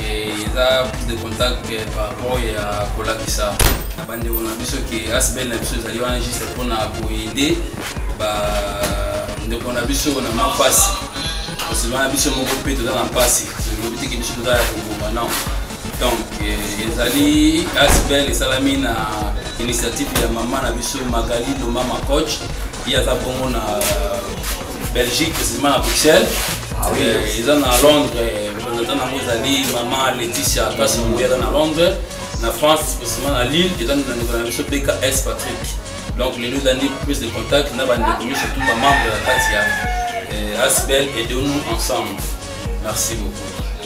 eza prise de contact par rapport ya kolakisa na bandeko na biso ke asbel na biso ezali wana juste mpona koyede bandeko na biso na mwa mpasi osima na biso moko mpe toza na mpasi tolobi teke biso toza ya koboma non donc eh, ezali asbel esalami na initiative ya mama na biso magali lomama coach ye aza bongo na belgique précisément na bruxelles ah eh, eza na londres representant eh, nango ezali mama laetitia kasi moye aza na londres na france précisément na lille eza na ndeko na biso beka s patrick donc lelo ezali prise de contact na bandeko mi surtout bamembre ya kati ya eh, asbel et de nous ensemble merci beaucoup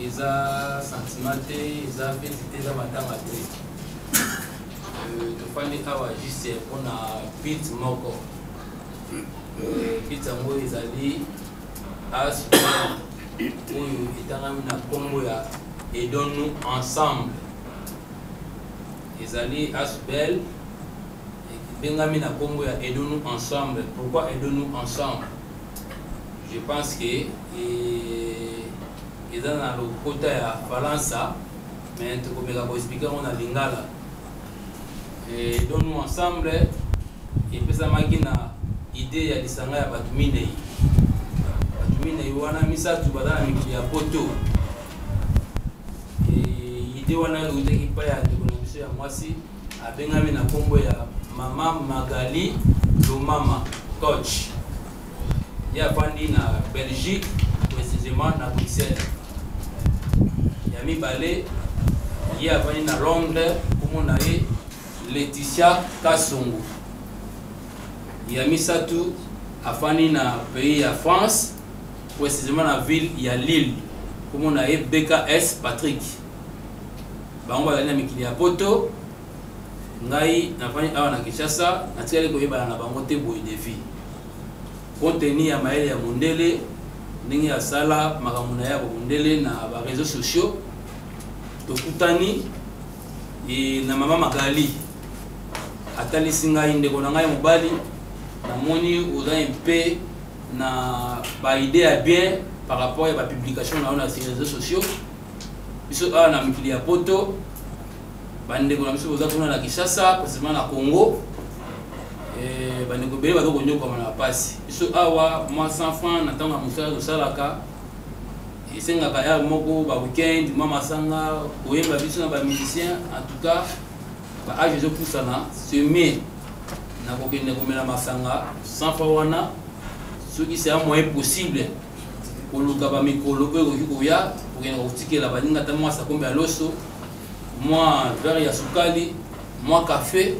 eza sentiment te eza feti te eza matanga te euh, tofandi awa juste mpona bit moko euh, bit yango ezali as oyo etangami na nkombo ya edon nous ensemble ezali asbel ebengami na nkombo ya edon nous ensemble pourquoi edon nous ensemble je pense que eh, eza na lokota ya falansa mais tokomeka koexplike yango na lingala eh, don nous ensemble epesamaki na idée ya lisanga ya bato minei bato minei wana misato baza na mikili ya poto eh, idée wana eutaki epai ya ndeko na biso ya mwasi abengami na kombo ya mama Magali Lomama Koch ye afandi na Belgique précisément na Bruxelles ya mibale ye afandi na Londres kombo na ye Laetitia Kasongo ya misato afandi na pays ya France précisément na ville ya Lille kombo na ye BKS Patrick bango bazali na mikili ya poto ngai nafandi awa na kinshasa natikali koyebana na bango te boye defi konteni ya mayele ya mondele ndenge asala makambo na ye ya bomondele na bareseau sociaux tokutani e, na mama magali atalisi ngai ndeko na ngai mobali namoni oza mpe na baide ya bien par rapport ya bapublication na yo na reseau sociaux biso awa na mokili ya poto bandeko na biso boza kuna na kinshasa presima na congo eh, bandeko ebele baza konyokwama na mpasi biso awa mwa 100 franc na ntango ya mosala tosalaka esengaka ya moko ba weekend mwa masanga koyemba biso na bamusicien en tout cas baage ezopusana seme na kokende komela masanga 100 franc wana soki c'est un moyen possible koluka bamikolo oyo ekoki koya kokenda kotikela baninga ata mwa sakombe ya loso mwa vere ya sukali mwa kafe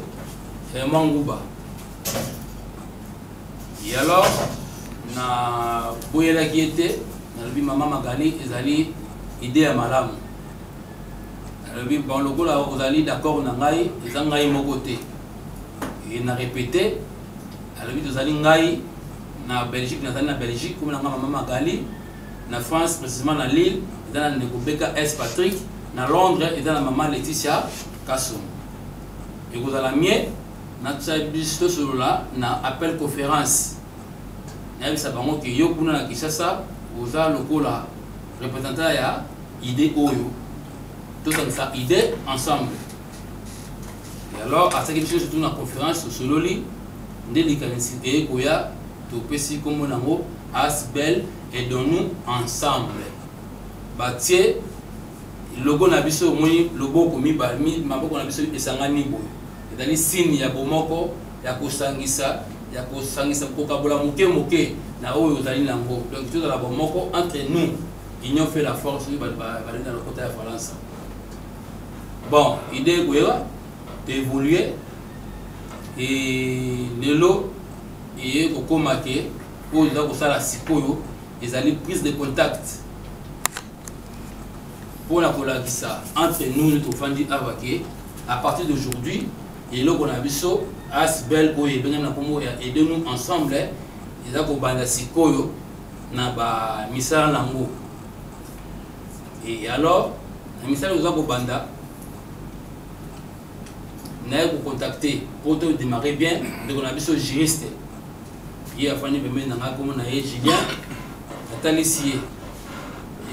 eh, mwa nguba ye alors na boyelaki ye te nalobi mama magali ezali ide ya malamu nalobi bon lokola ozali d'accord na ngai eza ngai moko te e na répéter alobi tozali ngai na belgique nazali na belgique komi na ngai mama magali na france précisément na lille eza na ndeko beka s patrick na londres eza na mama laetitia kasum ekozala mie natya biso tosolola na appel conférence nayebisa bango ke yo kuna na kinshasa oza lokola représentant ya idée oyo tosangisa idée ensemble Et alors, à ce que je tourne en conférence sur Sololi, nde likanisi eye koya topesi nkombo nango asbel aidons-nous ensemble batie logo na biso omoni loboko mibale maboko na biso esangani boye ezali signe ya bomoko ya kosangisa ya kosangisa kokabola moke moke na oyo ozali nango donc tozala bomoko entre nous union fait la force oyo balingi na lokota ya falansa bon idee ekoya evolue e lelo eye kokoma ke oyo eza kosala sikoyo ezali prise de contact mpo na kolakisa entre nous nde tofandi awa ke à partir d'aujourd'hui eloko na biso asbel oyo ebengami na nkombo ya aide nous ensemble eza kobanda sikoyo na bamisala na yango Et alors, na misala oza kobanda naye kocontacte mpo to démarre bien ndeko na biso juriste ye afandi pembeni na ngai komo na ye julien atalisi ye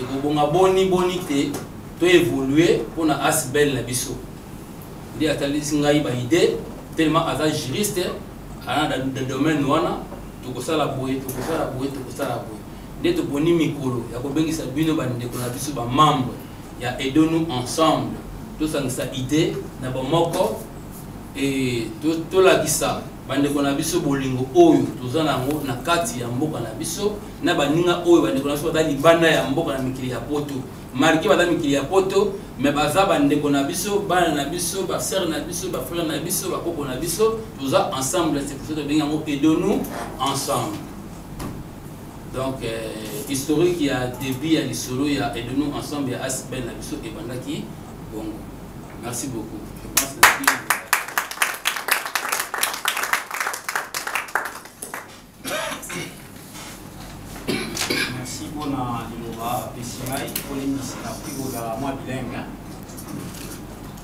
ekobonga boni boni te to évolue mpo na asbel na biso nde atalisi ngai baide tellement aza juriste ana na domaine wana tokosala boye tokosala boye tokosala boye nde toponi mikolo ya kobengisa bino bandeko na biso bamembre ya aido nous ensemble tosangisa idee na bomoko e tolakisa bandeko na biso bolingo oyo toza nango na kati ya mboka na biso na baninga oyo bandeko na biso baza libanda ya mboka na mikili ya poto marke baza mikili ya poto me baza bandeko na biso bana na biso basere na biso bafrere na biso bakoko na biso toza ensemble c'est pour ça tobengi yango edonu ensemble Donc, euh, historique ya début ya lisolo ya et de nous ensemble ya Asbel na biso ebandaki bongo. Merci beaucoup. Je pense que Merci pour la liloba apesi ngai kolendisa na prix kozala mwa bilingue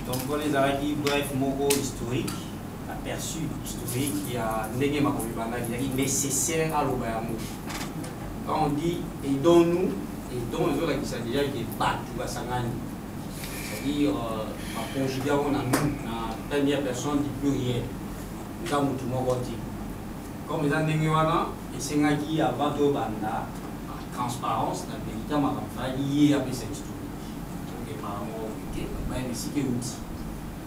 donc wana ezalaki bref moko historique aperçu historique ya ndenge makambo ebandaki ezalaki nécessaire aloba yango quand on dit aidons nous aidons ezolakisa déjà ke bato basangani c'est-à-dire euh, baconjuge yango na nous na première personne du pluriel eza motu moko te comme eza ndenge wana esengaki avant tobanda transparence na verité makambo ezalaki ye apesa historique tokepaa moko te bayebisiki euti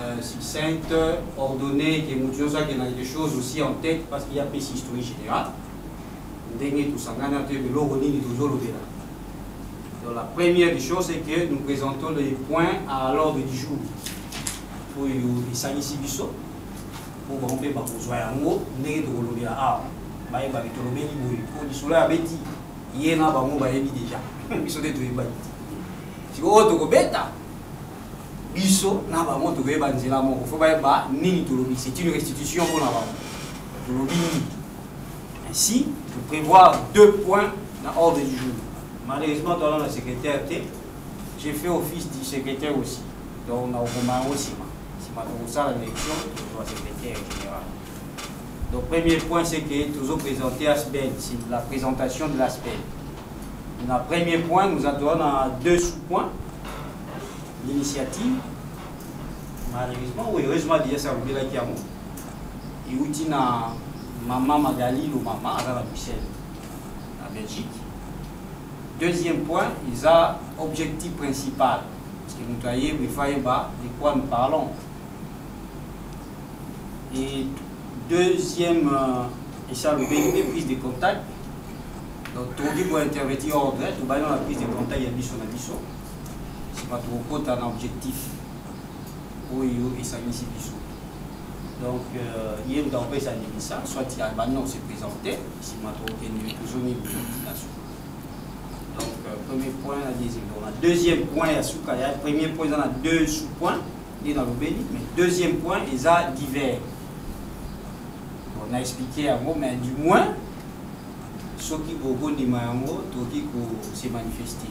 euh, succincte, ordonnée, que mutu nyonso akenda quelque chose aussi en tête parce qu'il y a pesi historique général ndenge tosangani ato yebe eloko nini tozolobela donc la première des choses c'est que nous présentons les points à l'ordre du jour oyo esalisi biso mpo bango mpe bakozwa yango ndenge tokolobela awa bayebaki tolobeli boye mpo lisolo ya beti ye na bango bayebi deja biso nde toyebaki te sikoyo tokobeta biso na bango tokoyeba nzela moko fo bayeba nini tolobi c'est une restitution mpo na bango tolobi nini ainsi de prévoir deux points na ordre du jour malheureusement toala na secrétaire te j'ai fait office du secrétaire aussi donc nakokoma yango nsima nsima tokosala élection tozwa secrétaire général donc premier point c'est que tozo présenter asbel c'est la présentation de l'asbel na premier point nous adona deux sous-points l'initiative malheureusement oui heureusement déjà ça obela ki yango iuti na maman Magali lo maman aza na Bruxelles na Belgique deuxième point ils a objectif principal parce que moto ayebi efa yeba de quoi nous parlons et deuxième euh, et ça le BNP prise de contact donc tokoki kointerverti ordre tobali na prise de contact ya biso na biso sima tokokota na objectif oyo esangisi biso donc euh, ye moto akopesa ndimisa soit abandi na kose présente nsima tokokende tozongi notification donc euh, premier point na deuxième donc na deuxième point ya suka ya premier point eza na deux sous point nde nalobeli mais deuxième point eza divers bon na explike yango mais du moins soki bokondima yango tokoki kose manifester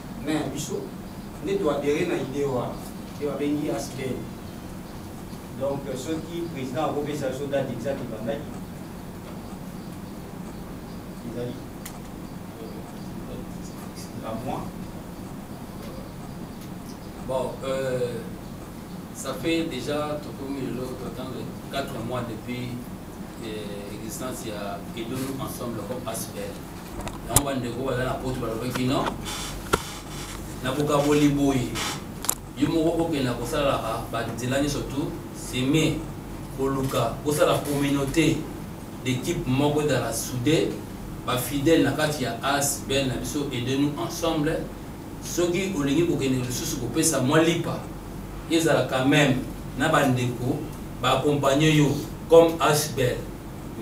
Mais biso nde to adhérer na idée wana te babengi aspect donc soki président akopesa biso date exact ebandaki ezali la mois bon euh, ça fait déjà tokomi lelo totanga 4 mois depuis euh, existence ya edonu ensemble comme aspect yango bandeko baza na poto balobaki no na bokaboli boye yo moko okenda kosalaka banzela nyonso tu seme koluka kosala communauté d'équipe moko ezala soude bafidèle na kati ya as bel na biso aide nous ensemble soki olingi kokende lisusu kopesa mwa lipa ezala quand même na bandeko baakompagne yo comme asbel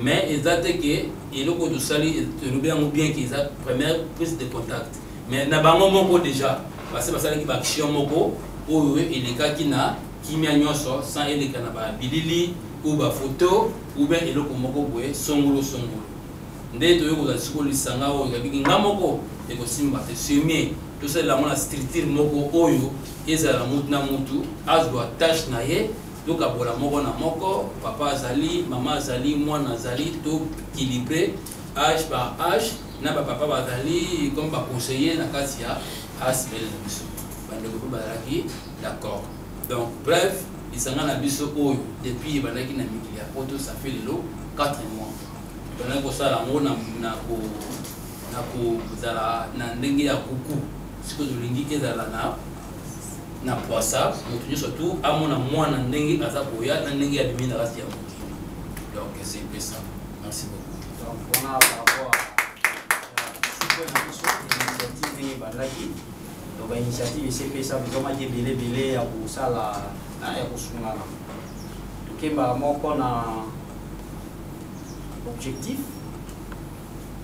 mais eza te ke eloko tosali elobi yango bien ke eza première prise de contact mais na bango moko déjà basi basalaki baaction moko oyo elekaki na kimia nyonso sans eleka na babilili ou bafoto ou bien eloko moko boye songolo songolo nde toyei kozala siko lisanga oyo yabiki nga moko ekosimba te semie tosalela yango na structure moko oyo ezala mutu na mutu azwa tâche na ye Tokabola moko na moko, papa azali, mama azali, mwana azali, to kilibre age par age na ba papa bazali comme ba conseiller na kati ya asbl na biso bandeko mpe bazalaki d'accord donc bref lisanga na biso oyo depuis ebandaki na mikili ya poto ça fait lelo 4 mois ebandaki kosala yango na kozala na ndenge ya kuku sikoyo tolingi ezala na na pwasa moto nyonso tu amona mwana ndenge aza koya na ndenge ya bimi na kati ya mokili donc c'est pe ça merci beaucoup donc wana par rapport initiative ndenge ebandaki donc bainitiative esepesa bizomaki ebele ebele ya kosala na ya kosungana tokembaka moko na objectif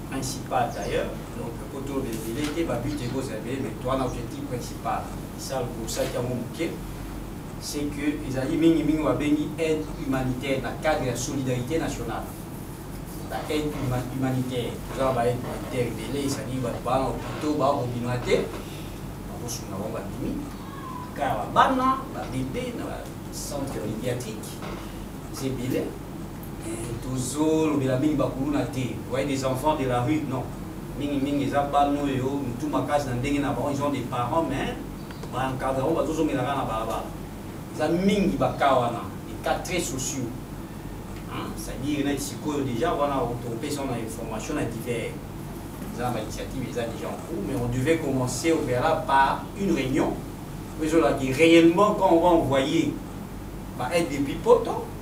principal d'ailleurs donc koto ebele te babute ekozala ebele mais to wana objectif principal esal kosaki yango moke c'est que ezali mingimingi babengi aide humanitaire na cadre ya solidarité nationale ba aide humanitaire toza na ba aide humanitaire ebele ezali bato baa na opito bakobima te bakosunga bango babimi kaka babana babebe na bacentre médiatique eza ebele tozolobela mingi bakuluna te voye des enfants de la rue non mingi mingi eza bana oyo mitu makasi na ndenge na bango ils ont des parents mais baencadre yango bazozongela kaka na balabala eza mingi baka wana etat très sociaux c'est-à-dire neti sikoyo déjà wana topesa na information na divers eza na bainitiative eza déjà en cours mais on devait commencer au préalable par une réunion oyo ezolaki réellement quand on va envoyer baide depuis poto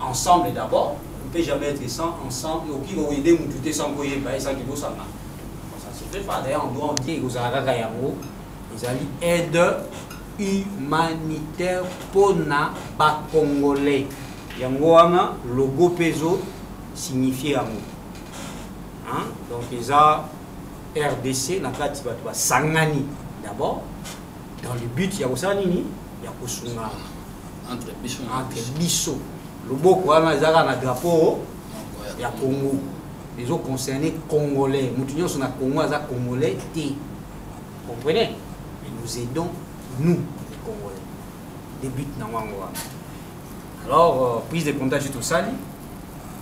ensemble d'abord on peut jamais être sans ensemble et okoki koyede mutu te sans koyeba ye sans kibosana ça se fait pas d'ailleurs en droit on dit ekozala kaka yango ezali aide humanitaire mpo na bacongolais yango wana logo mpe ezo signifie yango donc eza rdc na kati bato basangani d'abord dans le but ya kosala nini ya kosunga entre biso entre biso loboko wana ezalaka na drapeau ya congo ezoconcerne congolais moto nyonso na congo aza congolais te comprenez mais nous aidons nous les congolais de but na yango wana alors euh, prise de contact je tosali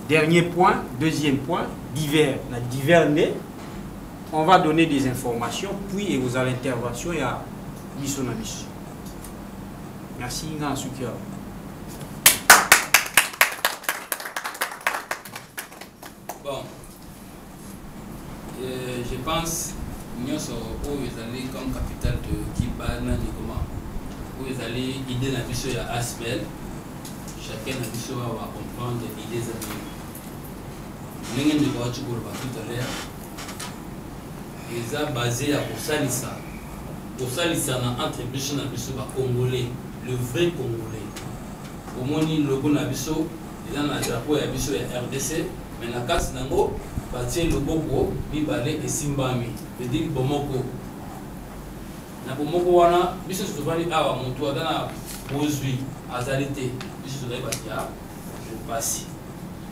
dernier point deuxième point divers na divers nde On va donner des informations, puis et vous allez intervention ya biso na biso. Merci nga suki ya. Bon. Euh, je pense nyonso oyo ezali comme capital de kiba na nikoma oyo ezali idée na biso ya asbel chacun na biso awa comprendre idée ezali ndenge ndeko wati koloba tout à l'heure eza base ya kosalisa kosalisana entre biso na biso bacongolais le vrai congolais omoni logo na biso eza na drapeau ya biso ya rdc mais na kati nango batie loboko mibale esimbami vedire bomoko na bomoko wana biso tozovandi awa motu aza na bozwi azali te biso tozali bato ya jour pasi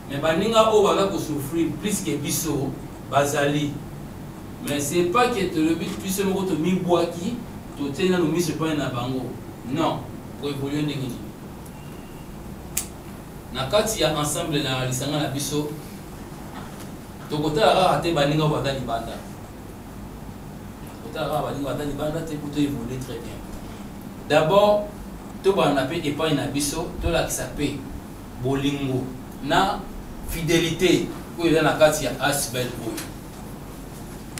mais baninga oyo baza kosouffrir plus que biso bazali mais c'est pas que tolobi biso moko tomibwaki totie nano miso epai na bango non koevolue ndenge nini na kati ya ensemble na lisanga na biso tokotala kaka te baninga oyo baza libanda kotala kaka baninga ata libanda te kuto evolue très bien d'abord tobanda mpe epai na biso tolakisa mpe bolingo na fidelité oyo eza na kati ya asbel oyo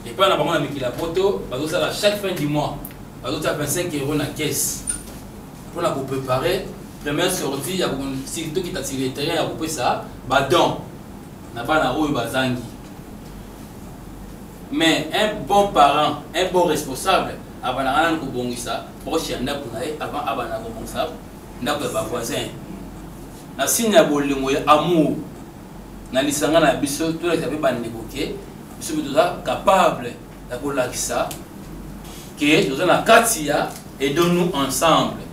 epai na bango na mikili ya poto bazosala chaque fin du mois bazotia 25 euro na caisse mpo na koprépare première sortie ya tokita tireterien ya kopesa badon na bana oyo bazangi Mais un bon parent, un bon responsable abandaka nanu kobongisa proche ya ndako na ye avant abanda kobongisa ndako ya bavoisin na signe ya bolingo ya amour na lisanga na biso tolakisa mpe bandeko ke biso mpe toza capable ya kolakisa ke toza na kati ya edonu ensemble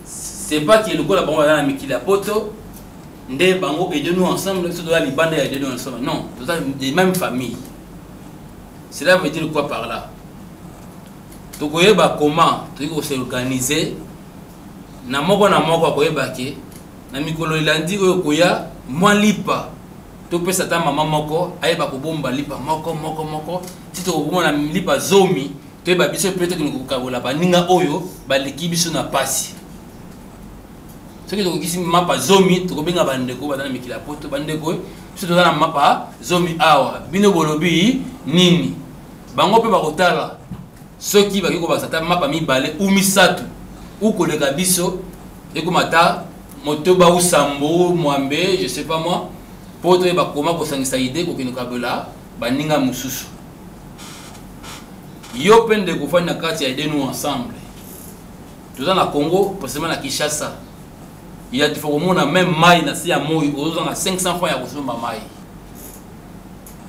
c'est pas ke lokola bango baza na mikili ya poto nde bango aide nous ensemble biso toza libanda ya aide nous ensemble non toza de même famille cela veut dire quoi par là tokoyeba comment toyei kosorganize na moko na moko akoyeba ke na mikolo elandi oyo koya mwa lipa topesa ata mama moko ayeba kobomba lipa moko moko moko ti tokokoma na lipa zomi toyeba biso mpe tokende kokabola baninga oyo baleki biso na mpasi soki tokokisi mapa zomi tokobenga bandeko baza na mikili ya poto bandeko biso toza na mapa zomi awa bino bolobi nini bango mpe bakotala soki bakoki kobakisa ata mapa mibale u misato u koleka biso ekoma ata motoba u sambo mwambe je sais pas moi mpo toyeba koma kosangisa ide kokende kabela baninga mosusu yo mpe ndeko ofandi na kati ya ide nous ensemble toza na congo precisement na kinshasa ya tifa komona meme mai na se ya moi ozozanga 500 franc ya kosomba mai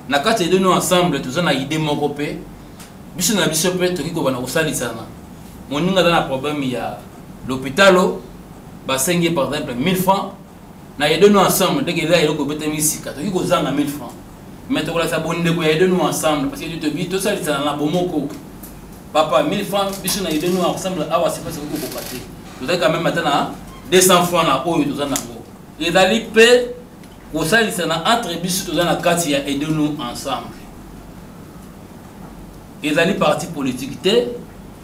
na kati ya ideno ensemble toza na ide moko mpe biso na biso mpe tokoki kobana kosalisana moninga aza na problème ya lopitalo basengi par exemple 1000 francs na aide nous ensemble ndenge eza eloko ebetami sika toki kozanga 1000 francs mais tokolakisa bondeko ya aide nous ensemble parce que tobi tosalisana na bomoko papa 1000 francs biso na aide nous ensemble awa sepa soki kokoka te tozali quand même ata na 200 francs na oyo toza nango ezali mpe kosalisana entre biso toza na kati ya aide nous ensemble ezali parti politique te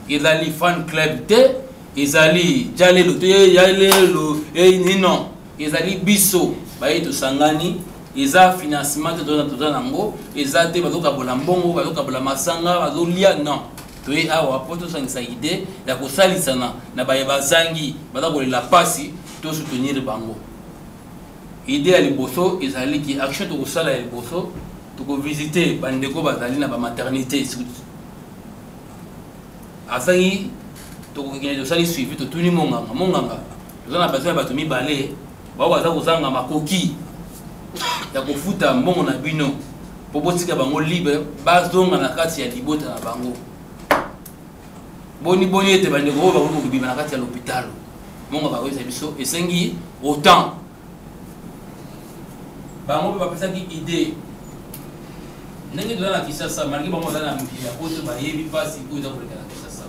ezali fan club te ezali jalelo to yalelo eini non ezali biso baye tosangani eza financement te toza nango eza te bazokabola mbongo bazokabola masanga bazolia non toye awa mpo tosangisa ide ya kosalisana na baye bazangi baza kolela mpasi tosoutenir bango ide ya liboso ezali ki action tokosala ya liboso tokovisite bandeko bazali na bamaternité azangi tokokende tosali suivi totuni monganga monganga toza na besoin ya bato mibale bao baza kozanga makoki ya kofuta mbongo na bino mpo botika bango libre bazonga na kati ya libota na bango boni boni ete bandeko oyo bakoki kobima na kati ya lopitalo monganga akoyebisa biso esengi autant bango mpe bapesaki idee ndenge toza na kinshasa malgré bango baza na mokili ya poto bayebi mpasi oyo eza koleka na kinshasa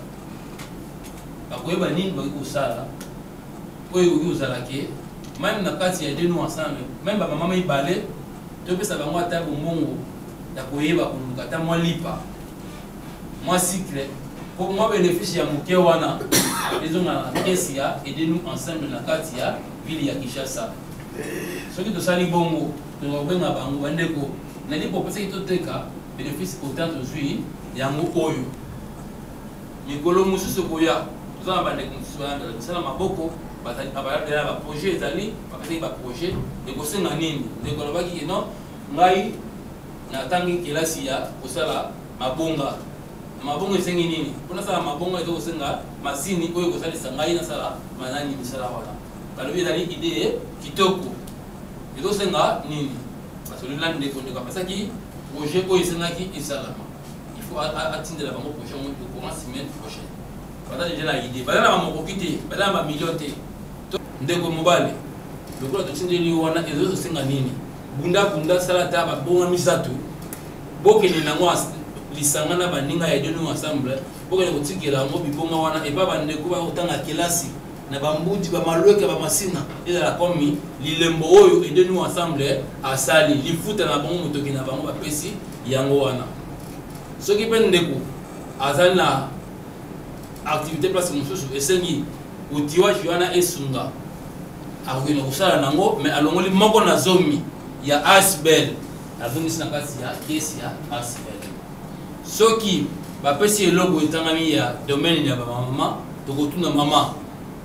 bakoyeba nini bakoki kosala oyo ekoki kozala ke meme na kati ya deno ensemble meme bamama mibale topesa bango ata bombongo ya koyeba koluka ata mwa lipa mwa cycle mpo mwa benefice ya moke wana ezongala na kesi ya edenu ensemble na kati ya ville ya kinshasa soki tosali bongo toza kobenga bango bandeko na lipo opesaki toteka bénéfice autant tozwi yango oyo mikolo mosusu ekoya toza na bandeko mosusu bayandala misala maboko balandela baprojet ezali bakataki baprojet ekosenga nini ndeko alobaki kino ngai natangi kelasi ya kosala mabonga Mabongo esengi nini? Mpo nasala mabongo eza kosenga masini oyo ekosalisa ngai nasala manani misala wana. Balobi ezali idee kitoko. Ezosenga nini? Basololi na ndeko, ndeko apesaki projet oyo esengaki esalama. Il faut atindela bango projet yango au courant semaine prochaine. Baza deja na idee. Baza na bamokoki te, baza na bamillion te. Ndeko mobali, lokola totindeli yo wana ezosenga nini? Bunda bunda sala ata babonga misato Bokende na yango lisanga na baninga ya denu ensemble bokende kotikela yango bibonga wana epa bandeko bakotanga kelasi na bambuti bamalweke bamasina ezala komi lilembo oyo edenu ensemble asali lifuta na bango motoki na bango bapesi yango wana soki mpe ndeko azali na activité place mosusu esengi otiwaki wana esunga akokende kosala nango mais alongoli moko na zomi ya asbel nazongisi na kati ya kesi ya arsivel soki bapesi eloko etangami ya domaine ya bamama tokotuna mama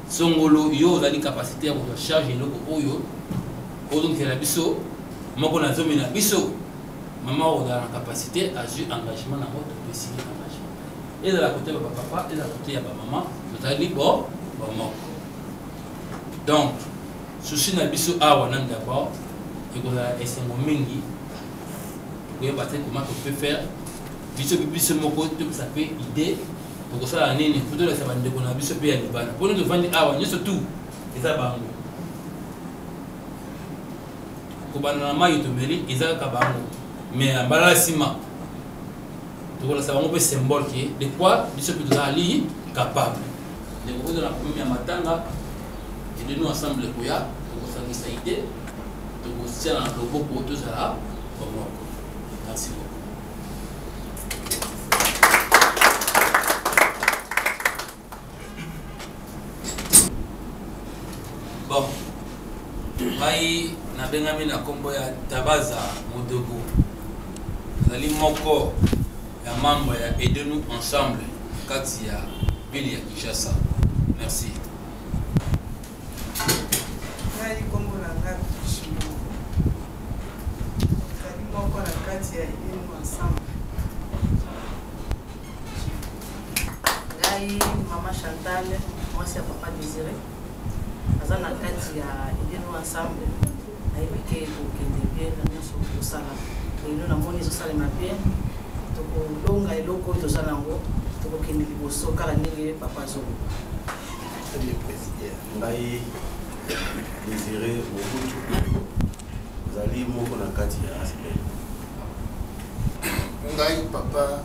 songolo yo ozali kapasité ya kozwa charge eloko oyo ozongela biso moko na zomi na biso mama ozala na kapasité azwi engagement na yango topesi ye engagement ezala kote ya bapapa ezala kote ya bamama tozali bo bomoko donc Souci na biso awa na Ndaba ekozala esengo mingi koyeba te comment on peut faire biso mpe biso moko topesa mpe idée tokosala nini mpo tolakisa bandeko na biso mpe ya libanda mpo nini tofandi awa nyonso tu eza bango kobanda na mai tomeli eza kaka bango mais mbala nsima tokolakisa bango mpe symbole ke de quoi biso mpe tozali capable ndeko oza na problème ya matanga ede nous ensemble ekoya tokosangisa ide tokotia na loboko tozala bomoko merci beaucoup bon ngai nabengami na nkombo ya tabaza modogo nazali moko ya membre ya aide nous ensemble kati ya ville ya kinshasa merci ngai nkombo na ngai moko na kati ya aide nous ensemble ngai mama chantal mwasi ya papa désiré aza na kati ya elino ensemble nayebi ke kokende bien na nyonso kosala elino namoni ezosalema bien tokolonga eloko oyo toza nango tokokende liboso kaka ndenge papa azoloba ngai désiré mobutu ozali moko na kati ya aspect ngai papa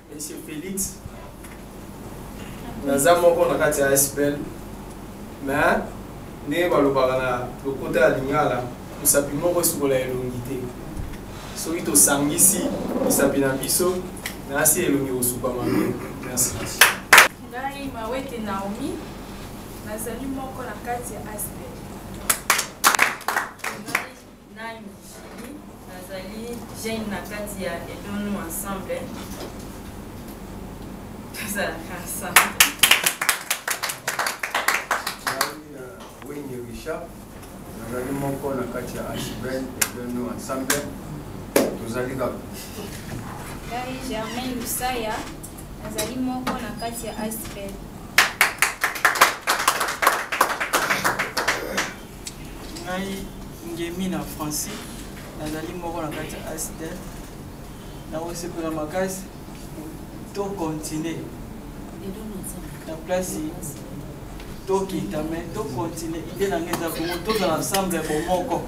Monsieur Felix, naza moko na kati ya SPL, mais ndenge balobaka na lokota ya Lingala, mosapi moko esukola elongi te. Soki tosangisi mosapi na biso, nasi elongi kosuka mabe. Merci. Ngai Mawete Naomi, nazali moko na kati ya SPL. Nani Julie, nazali jeune na kati ya Edonu Ensemble. Tozalaka ensemble. Wenge Richard, nazali moko na kati ya Ashben Edonu Ensemble. Tozali kaka. Ngai Germain Lusaya, nazali moko na kati ya Ashben. ngai ngemi na français nazali moko na kati ya asdel nakosepela makasi to continue na place tokita me to continue ide na ngai eza bongo tozala ensemble bomoko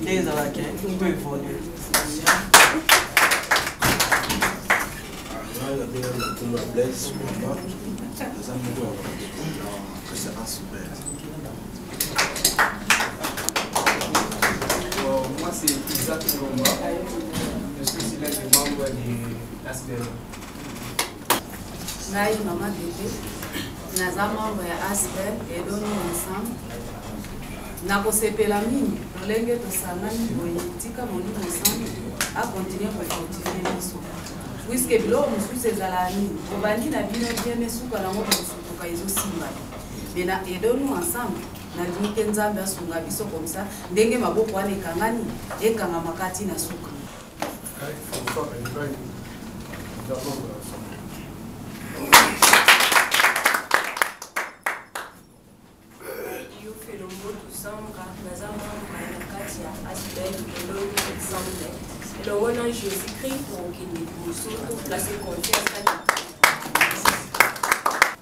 nde ezalaka to evolue ngai nabenga na nkombo ya blaise mama naza moko ya kasi asbel ngai mama bebe naza membre ya asper edoni ensemble nakosepela mingi lolenge tosangani boye tika molimo ensemble akontinue kofortifie biso puiske biloko mosusu ezala nini obandi na bino bien esuka nango kosutuka ezosimba mais na aidons nous ensemble na limite nzambe asunga biso comme ça ndenge maboko wana ekangani ekangama kati na suka elongo na jésus christ kokende liboso toplace confiance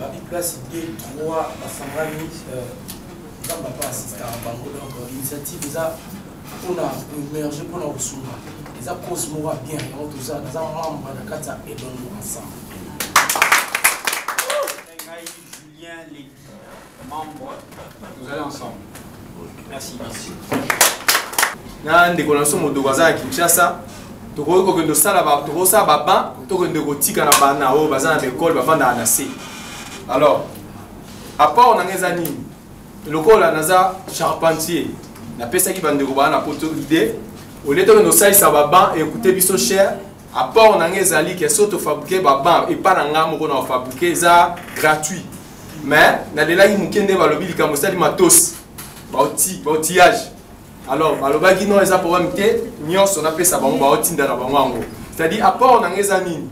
babi place de trois bafangani nzambe apa asistaka bango donc initiative eza mpona koemerge mpona kosunga eza cause moko ya bien yango toza naza membre na kati ya elongo ensemble Membre, vous allez ensemble. Merci. Merci. na ndeko na biso modogo aza na kinshasa tokoki kokende osala tokosala baban tokende kotika na bana oyo baza na baekole bafandaka na se alors apport nanga eza nini lokola naza charpentier napesaki bandeko baa na poto idée olie tokende osalisa baban ekute biso cher apport nanga ezali ke so tofabrike baban epa na ngai moko na kofabrike eza gratuit mais nalelaki moke nde balobi likambo esali matosi baotillage alors balobaki non eza problème te nyonso napesa bango baotinda na bango yango c'est-à-dire apport na ngai eza nini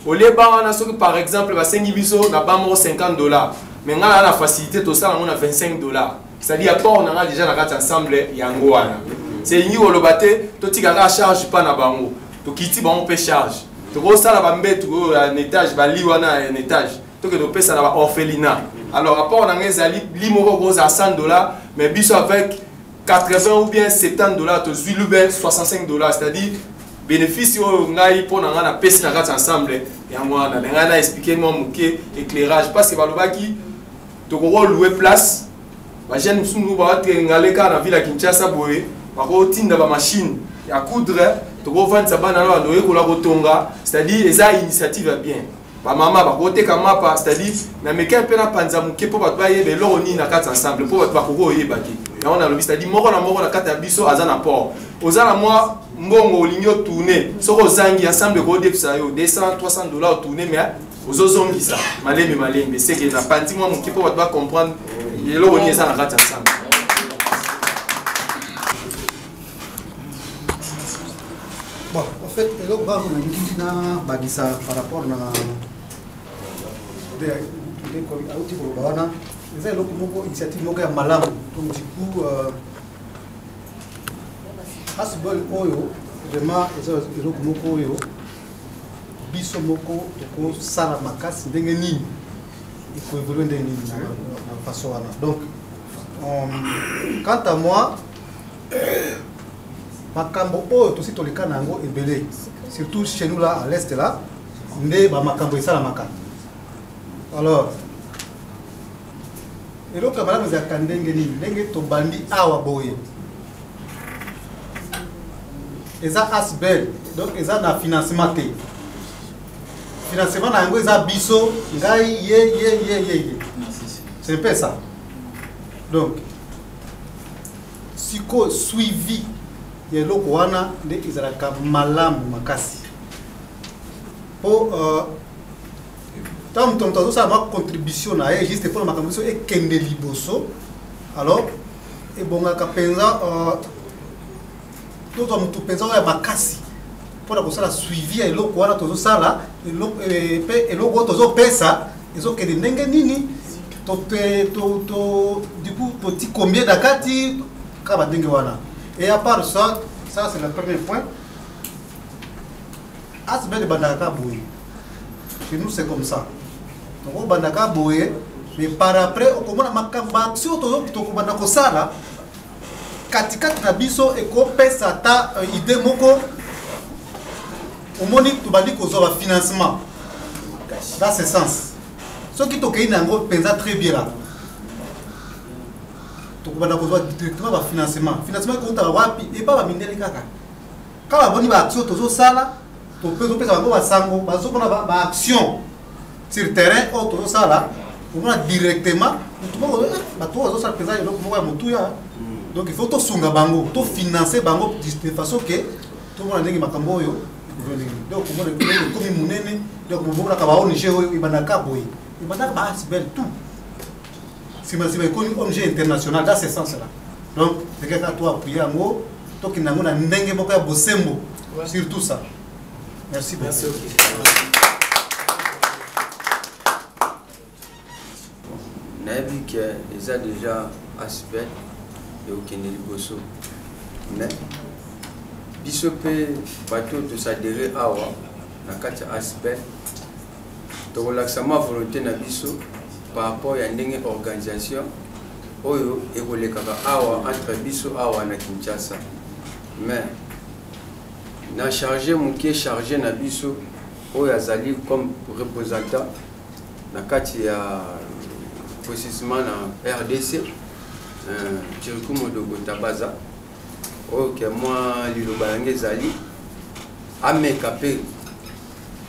oleba wana soki par exemple basengi biso na ba moko 50 dollars mais ngai na facilité tosala yango na 25 dollars c'est-à-dire apport na ngai déjà na kati ensemble yango wana selingi koloba te totika kaka charge mpa na bango tokiti bango mpe charge tokosala bambetu oyo ya netage bali wana ya netage tokende kopesa na ba orphelina alors rapport na ngai ezali li moko kozala 100 dollars mais biso avec 80 ou bien 70 dollars tozwi lube 65 dollars c'est à dire bénéfice oyo ngai mpo na ngai napesi na kati ensemble yango wana na ngai na explike mwa moke éclairage parce que balobaki tokoki loue place bajeune mosusu mosusu bawatrengale kaka na ville ya kinshasa boye bakotinda bamachine ya coudre tokofandisa bana na bando oyekola kotonga c'est à dire eza initiative ya bien bamama bakoteka mapa c'est-à-dire na mekee mpe na panza moke mpo bato bayeba eloko nini na kati ya ensemble mpo bato bakoki oyeba te yango nalobi c'est-à-dire moko na moko na kati ya biso aza na port oza na mwa mbongo olingi otourne soki ozangi ensemble ekodepisa yo 200 300 dollar otourne mais ozozongisa malembe malembe seke na panzi mwa moke mpo bato bacomprendre eloko nini eza na kati ya ensemble bon en fait eloko kaka nalingi nabakisa par rapport na auti koloba wana eza eloko moko initiative moko ya malamu donc du coup euh, hasbol oyo vraiment eza eloko moko oyo biso moko tokosala makasi ndenge nini ekoevolue ndenge nini na façon wana donc euh, quant à moi makambo oyo tosi toleka na yango ebele surtout chez nous là à l'est là nde bamakambo esalamaka alors eloko ya malamu ezalaka ndenge nini ndenge tobandi awa boye eza asbel donc eza na financement te financement na yango eza biso ngai ye ye ye ye ye c'est mpe ça donc sikoyo suivi ya eloko wana nde ezalaka malamu makasi mpo euh, ntango moto moto azosala mwa contribution na ye juste mpona makambo biso ekende liboso alors ebongaka mpenza euh, tozwa motu mpenza oyo ya makasi mpo na kosala suivi ya eloko wana tozosala mpe eh, eloko oyo tozopesa ezokende ndenge nini ducoup toti combien na kati kaka bandenge wana et à part ça ça c'est le premier point asbel ebandaka kaka boye chez nous c'est comme ça donc obandaka boye mais par après okomona makambo baaction tokobanda kosala katikati na biso ekopesa ata euh, idee moko omoni tobandi kozwa bafinancement dans ce sens soki tokei na yango mpenza très bien la tokobanda kozwa directement bafinancement financement ekoutaka wapi epa bamindeli kaka kaka boni baaction tozosala topesa bango basango bazomona baaction sur terrain oyo tozosala omona directement bato oyo bazosala mpenza eloko moko ya motuya hmm. donc il faut tosunga bango tofinance bango de façon ke tomona ndenge makambo oyo donc omona ekomi monene donc mobomonaka baong oyo ebandaka boye ebandaka baasbel tout sima sima ekomi ong international dans ce sens là donc teke kaka to appuye yango tokende yango na ndenge moko ya bosembo sur tout ça merci beaucoup nayebi ke eza déjà aspect ekokende liboso mais biso mpe bato tosadere awa na kati ya aspect tokolakisa mwa volonté na biso par rapport ya ndenge organisation oyo ekolekaka awa entre biso awa na kinshasa mais na charge moke charge na biso oyo azali comme représentant na kati ya précisement na rdc euh, chiriku modogo tabaza oyo ke mwa liloba yango ezali ameka mpe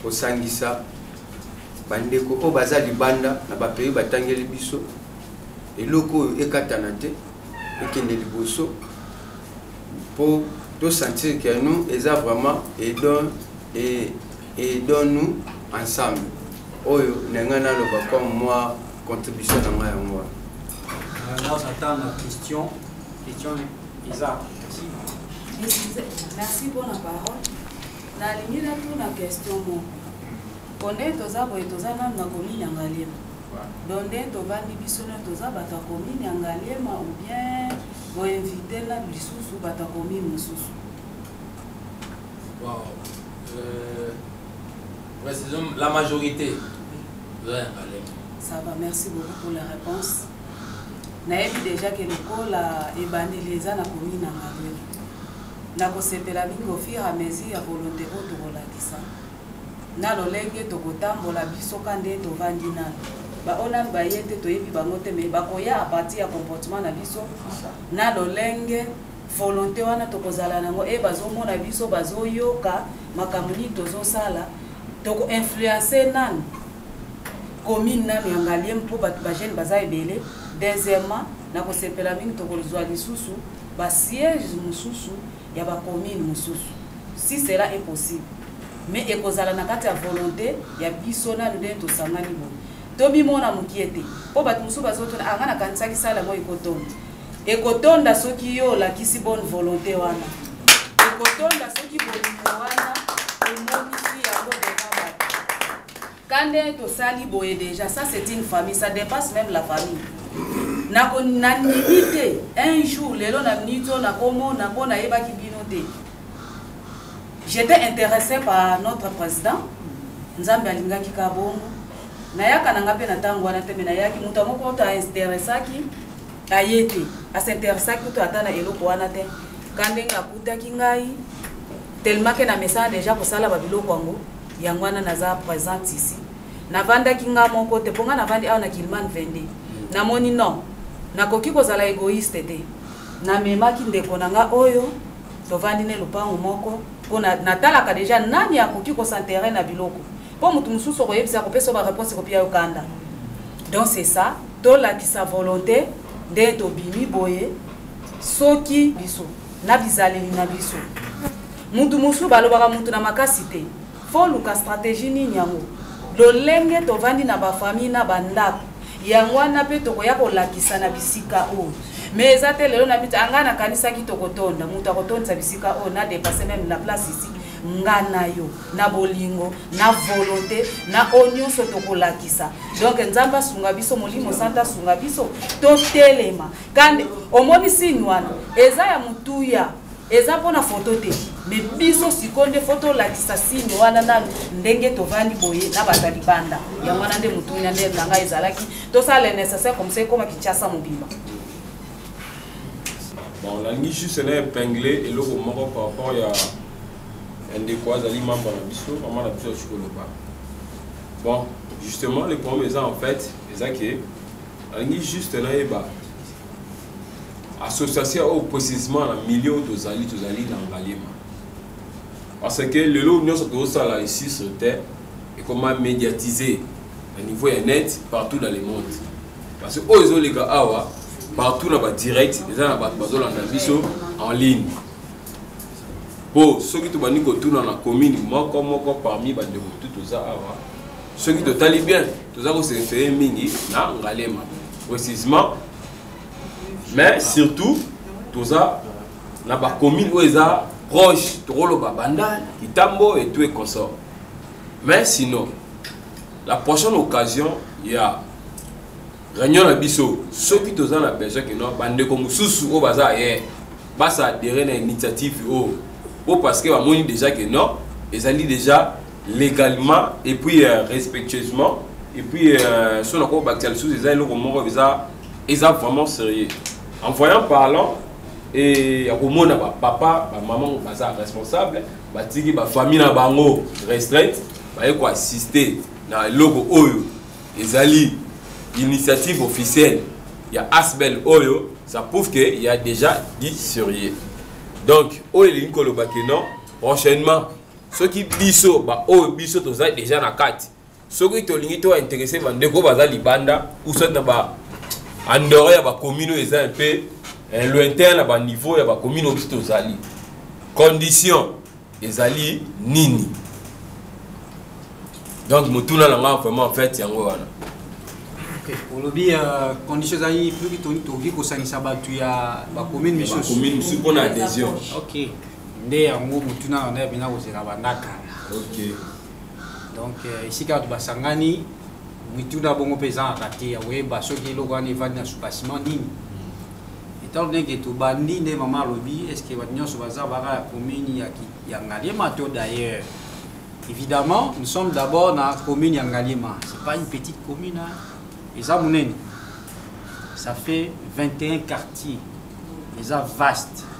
kosangisa bandeko oyo baza libanda na bapays batangeli biso eloko oyo ekatana te ekende liboso mpo tosentir que nous eza vraiment edon edon nous ensemble oyo na ngai naloba comme moi contribution na ngai yango wana alors j'attends la question question eza merci pour la parole nalingi natuna question moko mpo nde toza boye toza nanu na komini ya ngaliema don nde tovandi biso nio toza bato ya komini ya ngaliema ou bien boinvite na lisusu bato ya komini mosusu euh, précisément la majorité toza ya ngaliema ça va merci beaucoup pour la réponse nayebi déjà ke lokola ebandeli eza na komini ya ngaliema Nakosepela mingi au fur et à mesure ya volonte oyo tokolakisa na lolenge tokotambola biso ka nde tovandi nanu ba oyo nanu baye te toyebi bango te mais bakoya à partir ya comportement na biso na lolenge volonte wana tokozala nango e bazomona biso bazoyoka makambo nini tozosala toko influence nanu commune nanu ya ngaliema mpo bato ba jeune baza ebele deuxièmement na kosepela mingi tokozwa lisusu ba siège mosusu ya ba commune mosusu si cela est possible mais ekozala na kati ya volonté ya biso nanu ndenge tosangani boye tomimona mokie te mpo bato mosusu bazotuna anga ah, nakanisaki sala yango ekotonda ekotonda soki yo olakisi bonne volonté wana ekotonda soki bolingo wana Kande tosali boye deja ça c'est une famille ça dépasse même la famille nako nandimi te un jour lelo na minute oyo nakomona mpo nayebaki bino te j'étais intéressé par notre président nzambe alingaki ka bongo nayaka na nga mpe na ntango wana te me nayaki moto yango kutu ainteressaki aye te asinteressaki kutu ata na eloko wana te ka ndenge akutaki ngai telmake na mesana deja kosala babiloko yango yango wana naza presente ici navandaki nga moko te mpo nga navandi awa na kilman 22 namoni non nakoki kozala egoiste te namemaki ndeko na nga oyo tovandi ne lopango moko mpo natalaka deja nani akoki kosentere na biloko mpo moto mosusu okoyebisa kopesa bareponse kopia yo kanda donc c'est ça tolakisa volonté nde tobimi boye soki biso na bizaleli na biso Mutu mosusu balobaka mutu na makasi te. Fo luka strategie nini yango? Lolenge tovandi na ba famille na ba ndaku yango wana pe tokoya kolakisa na bisika oyo. Mais eza te lelo na miti anga na kanisaki tokotonda mutu akotondisa bisika oyo na depasser meme la place ici. nga na yo na bolingo na volonte na oyo nyonso tokolakisa donk nzambe asunga biso molimo santu asunga biso totelema kandi omoni signe wana eza ya motuya eza mpona foto te me biso sikoyo nde fo tolakisa signe wana nanu ndenge tovandi boye na bato ya libanda yango wana nde motunya nde na ngai ezalaki tosala le nécessaire comme ça ekoma kinshasa mobimba nalingi juste na epingle eloko moko par rapport ya ndeko azali membre na biso mama na biso ya sikoloba bon justement le problème eza en fait eza ke alingi juste nayeba association oyo précisement na milieu tozali tozali na ngaliema parce que lelo nyonso tozosala ici sur terre ekoma médiatise na niveau ya net partout dans le monde parce que oyo ezoleka awa partout na badirect eza na bato bazolanda biso en ligne mpo soki tobandi kotuna na commune moko moko parmi bandeko tu toza awa soki totali bien toza koserefere mingi na ngalema précisement mais surtout toza na bacommune oyo eza proche tokoloba bandal kitambo et tout et consort mais sinon la prochaine occasion ya réunion na biso soki toza na besoin kino bandeko mosusu oyo baza ye basa adere na initiative oyo po parce que bamoni déjà ke non ezali déjà legalement et puis euh, respectueusement et puis euh, so na kobakisa lisusu eza eloko moko eza eza vraiment sérieux en voyant parlant et ya komona bapapa bamaman baza responsable batiki bafamille na bango restraite baye koassiste na eloko oyo ezali initiative officielle ya asbel oyo ça prouve que il y a déjà dit sérieux donc oyo elingi koloba que non prochainement soki biso baoyo biso toza deja na kati soki tolingi to interesse bandeko baza libanda usa na ba andore ya bakomine oyo eza mpe eh, lointain na baniveau ya bakomine oyo biso tozali condition ezali nini donc motuna na ngai vraiment en fait yango wana olobi ya euh, condition ezali soki tokoki kosangisa bato ya bakomine misusu mpo na adhésion nde yango motuna na ngai abina kozela banda kala okay. donc euh, esika bato basangani mituna bongo mpe ezangaka te ya koyeba soki eloko wana evandi na soubasiment nini etant donné ke tobandi nde mama alobi est ce que bato nyonso baza baka ya commune ya ngaliema to d'ailleurs évidemment nous sommes d'abord na commune ya ngaliema c'est pas une petite commune eza monene ça fait 21 quartiers eza vaste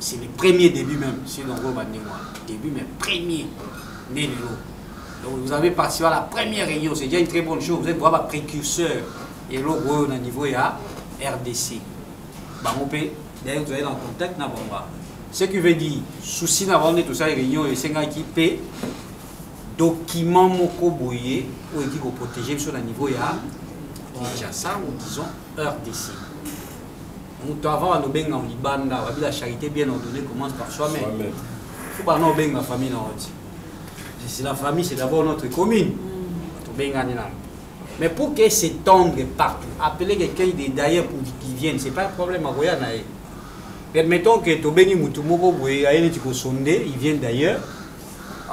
c'est le premier début même si donc oyo bandenge wana début mais premier nde lelo donc vous avez participé à la première réunion c'est déjà une très bonne chose vous êtes vraiment précurseur eloko oyo na niveau ya rdc bango mpe d'ailleurs tozali na contact na bango wana ce qui veut dire souci na bango nde tosali réunion oyo esengaki mpe document moko boye oyo eki koprotege biso na niveau ya kinshasa ou disons rdc moto avant alobenga libanda babi la charité bien ordonnée commence par soi-même fo bana obenga famille na oti c'est la famille c'est d'abord notre commune mm. tobengani nano mais pour que s'étendre partout appeler quelqu'un de d'ailleurs pour qu'il vienne c'est pas un problème akoya na ye permettons que tobengi moto moko boye aye neti kosonde il vient d'ailleurs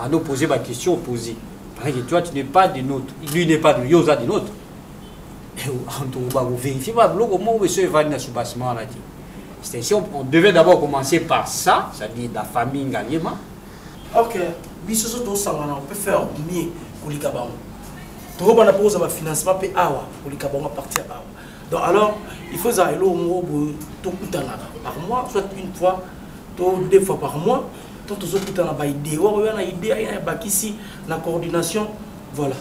anoposer baquestion opposé parce que toi tu n'es pas de notre lui n'est pas de yo oza de notre antuku bakoverifie ba biloko moko beso evandi na soubassement wana te extension on devait d'abord commencer par ça c'est-à-dire la famille ngaliema ok biso so tosangana on peut faire mieux kolika bango tokobanda mpo kozala bafinancement mpe awa kolika bango aparti ya bawa donc alors il faut ezala eloko moko boye tokutanaka par mois soit une fois to deux fois par mois to tozokutana baidee oyo wana idee ayina ebakisi na coordination voilà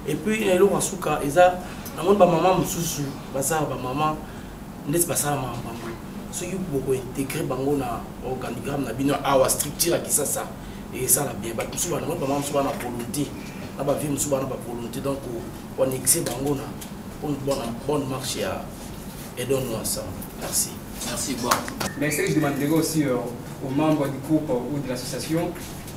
et puis na eloko ya suka eza namoni bamama mosusu baza na bamama ndeti basala makambo yango soki bokointegre bango na organigramme na bino awa structure ya kisasa esala bien bato mosusu banamoni bamama mosusu bana volonté na bavie mosusu bana bavolonté donc koanexe bango na une bonne marche ya edonno ensemble merci merci bon mais ce que je demanderai aussi euh, aux membres du groupe ou de l'association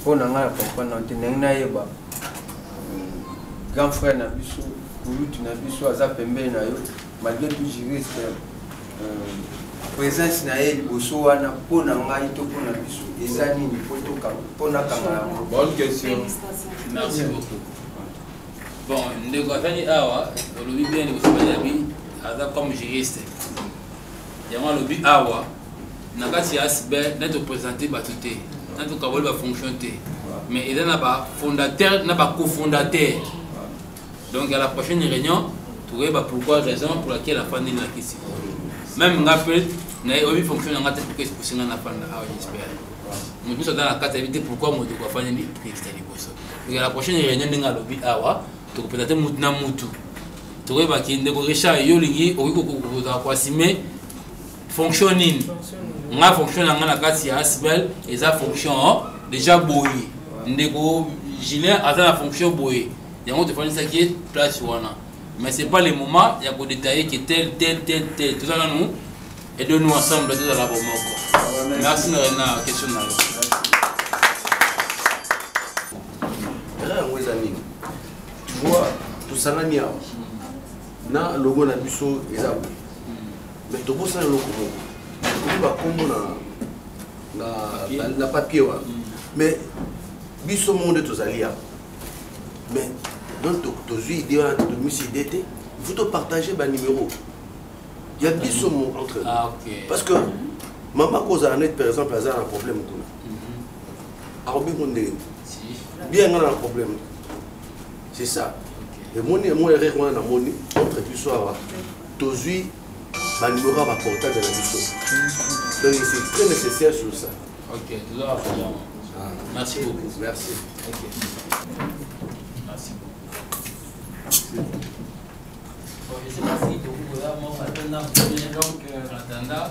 mpo na ngai na comprendre nao te ndenge nayeba grand frère na biso kulutu na biso aza pembeni na yo malgré tout juriste euh, présence na ye liboso wana mpo na ngai to mpo na biso eza nini mpo nakanga yango bonne question merci beaucoup bon ndeko afandi awa olobi bien liboso banabi aza comme juriste yango alobi awa na kati ya asbe na topresente bato te na tokaboli bafonction te mais eza na bafondateur na bacofondateur donc à la prochaine réunion tokoyeba pourquoi raison pour laquelle afandi na kisi même nga mpe nayebi fonction na nga te pourquoi eposi nga nafanda awa jespère moto nyonso aza na kati ayebi te pourquoi moto kofandi na prix ya liboso donc à la prochaine réunion ndenge alobi awa tokopresente motu na motu tokoyeba ki ndeko richard yo olingi okoki kokokoza koasime fonction nini nga fonction na nga na kati ya asbel eza fonction oh, deja boye ndeko julien aza na fonction boye yango tofandisaki ye place wana mais c'est pas le moment ya kodetaille ke tel tel tel tel toza nanu aide nous ensemble tozala bomoko merci na rena question na yo tu vois tosangani awa na logo na biso eza boye mais tobosana eloko moko tokomi bakombo na papier wana mais biso moko nde tozali awa mais donc tozwi idée wana tomisi idée te il faut topartage banimero ya biso mo entre ah, parce que mama kozala neti par exemple aza na problème kuna akobengo ndenge bien nga na problème c'est ça emoni yango erreur wana namoni entre biso awa tozwi banimero ya baportable na biso donc c'est très nécessaire sur ça ok ah. merci beaucoup merci okay. merci beaucoup Je ne sais pas si tu as un mot à donner, donc, euh, attendant.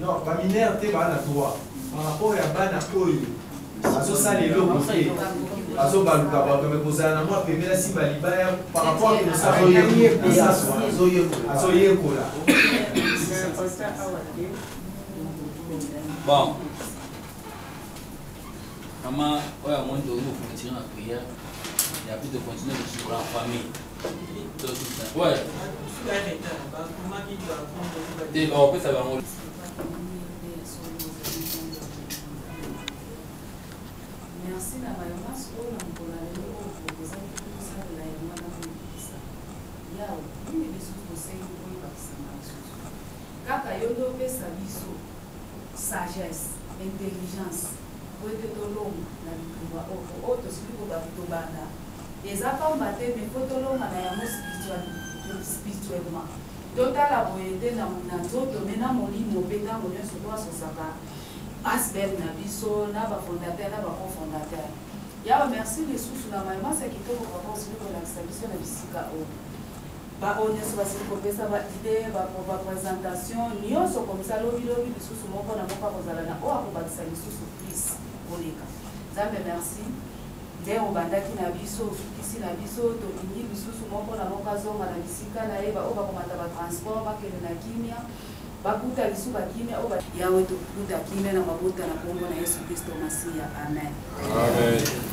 Non, ba mineurs te ba na droit. Par rapport ya bana oyo bazosala eloko te bazobaluka bato me kozala na mwa pembela simba libaya par rapport azoyekola bon mama oyo amoni tokoki kofonctionne na prière ya plus de continuer de suivre en famille te bakopesa bango merci na bayo nyonso oyo na mokolo ya lelo oyo proposaki tosalela ye mwana koyebisa yawe nini lisusu tosengi koyebakisa na lisusu kaka yo nde opesa biso sagesse intelligence po ete tolonga na bituba oyo oyo tosili kobanda Eza pamba te mais faut tolonga na yango spirituellement. Totala boye te na nzoto mais na molimo pe tango nionso to asosaka Asbl na biso na ba fondateur na ba co-fondateur. Yaweh merci lisusu na maye manso ya kitoko papa osili kolakisa biso na bisika oyo. Ba oyo nionso basili kopesa ba idee, ba presentation nionso komsa lobi lobi lisusu moko na moko akozala na oyo akobakisa lisusu plus koleka. Nzambe merci. Nde obandaki na biso, osukisi na biso, tolingi lisusu moko na moko azonga na bisika na ye, baoyo bakomata ba transport bakende na kimia, bakuta lisusu ba kimia oyo Yawe tokuta kimia na mabota na kombo na Yesu Kristo Masiya, amen. Amen.